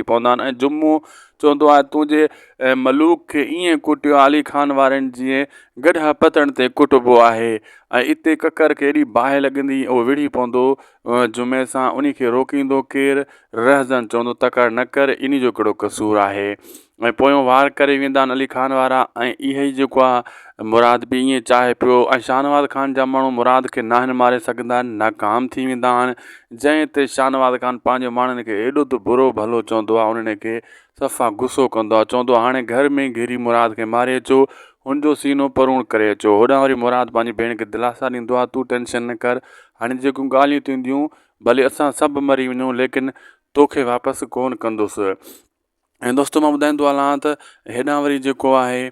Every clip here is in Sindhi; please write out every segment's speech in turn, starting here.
ٿي پوندا آهن ۽ جمعو چوندو آهي تون جي ملوڪ کي ائين ڪٽيو علي خان وارين جيئن گڏهه پتڻ تي ڪٽبو آهي ۽ اتي ڪڪر کي ايڏي باهه لڳندي اهو وڙهي پوندو جمعي سان انهي کي روڪيندو ڪير رهزن چوندو تڪڙ نه ڪر انهي جو ڪهڙو قصور آهي ۽ پويون وار ڪري ويندا آهن علي خان وارا ۽ اهي ئي جيڪو آهي مراد به ائين چاهي پيو ۽ شاهنواز خان جا ماڻهو مراد کي ناهن ماري سگهندا ناڪام ٿي ويندا آهن جنهن تي شاهنواز خان پنهنجي ماڻهن کي ايڏو ته برو ڀلو چوندو آ انهن کي صفا غصو ڪندو آ چوندو آ هاڻي گهر ۾ ئي گهيري مراد کي ماري اچو هن جو سينو پروڻ ڪري اچو هوڏانهن وري مراد پنهنجي ڀيڻ کي دلاسا ڏيندو آ تون ٽينشن نه ڪر هاڻي جيڪيون ڳالهيون ٿينديون ڀلي اسان سڀ مري وڃون ليڪن توکي واپس ڪون ڪندس. ۽ دوستو مان ٻڌائيندو هلان ته هيڏانهن وري جيڪو آهي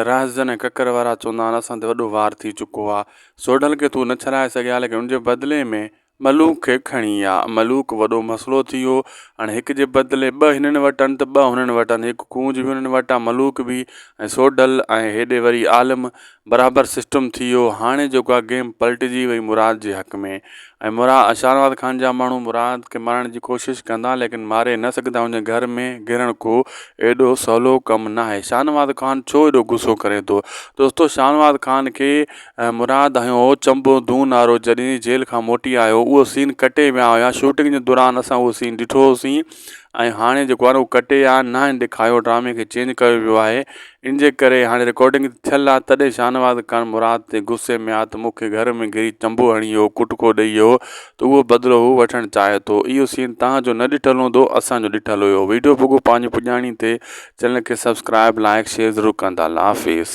رازن ۽ ڪڪر وارا چوندا آهن اسان تي وڏو وار ٿي چڪو آهي سوڍل کي تون نه ڇڏائي سگهيا ليڪن ان جي بدلي ۾ ملوڪ کي کڻي آ ملوڪ وڏو مسئلو ٿي ويو هاڻي هڪ جي بدلي ٻه هنن وٽ آهن ته ٻه هنن وٽ آهن هڪ ڪونج بي هنن وٽ آ ملوڪ بي ۽ سوڍل ۽ هيڏي وري عالم برابر سسٽم ٿي ويو هاڻي جيڪو آ گيم پلٽجي وئي مراد جي حق ۾ ۽ مرا اشارباد خان جا ماڻهو مراد کي مارڻ جي ڪوشش ڪندا ليڪن ماري نه سگهندا هن جي گهر ۾ گهرڻ ڪو ايڏو سولو ڪم ناهي شاهنواز خان ڇو ايڏو غصو ڪري ٿو دوستو شاهنواز خان کي مراد هنيو هو چنبو دون وارو جڏهن جيل کان موٽي آيو اهو سين ڪٽي ويا هيا شوٽنگ جي دوران اسان اهو سين ڏٺو هوسين ۽ هاڻي جيڪو آ نه اهو ڪٽي آ ناهن ڏيکايو ڊرامي کي چينج ڪيو ويو آهي ان جي ڪري هاڻي رڪارڊنگ ته ٿيل آ تڏهن شاهنواز خان مراد تي غصي ۾ آ ته مون کي گهر ۾ گهري چنبو هڻي هو ڪٽڪو ڏئي هو ته اهو بدلو هو وٺڻ چاهي ٿو اهو سين توهان جو نه ڏٺل هوندو اسان جو ڏٺل هيو ويڊيو پڳو پنهنجي پڄاڻي تي چينل کي سبسڪرائب لائيڪ شيئر ضرور ڪندا الله حافظ.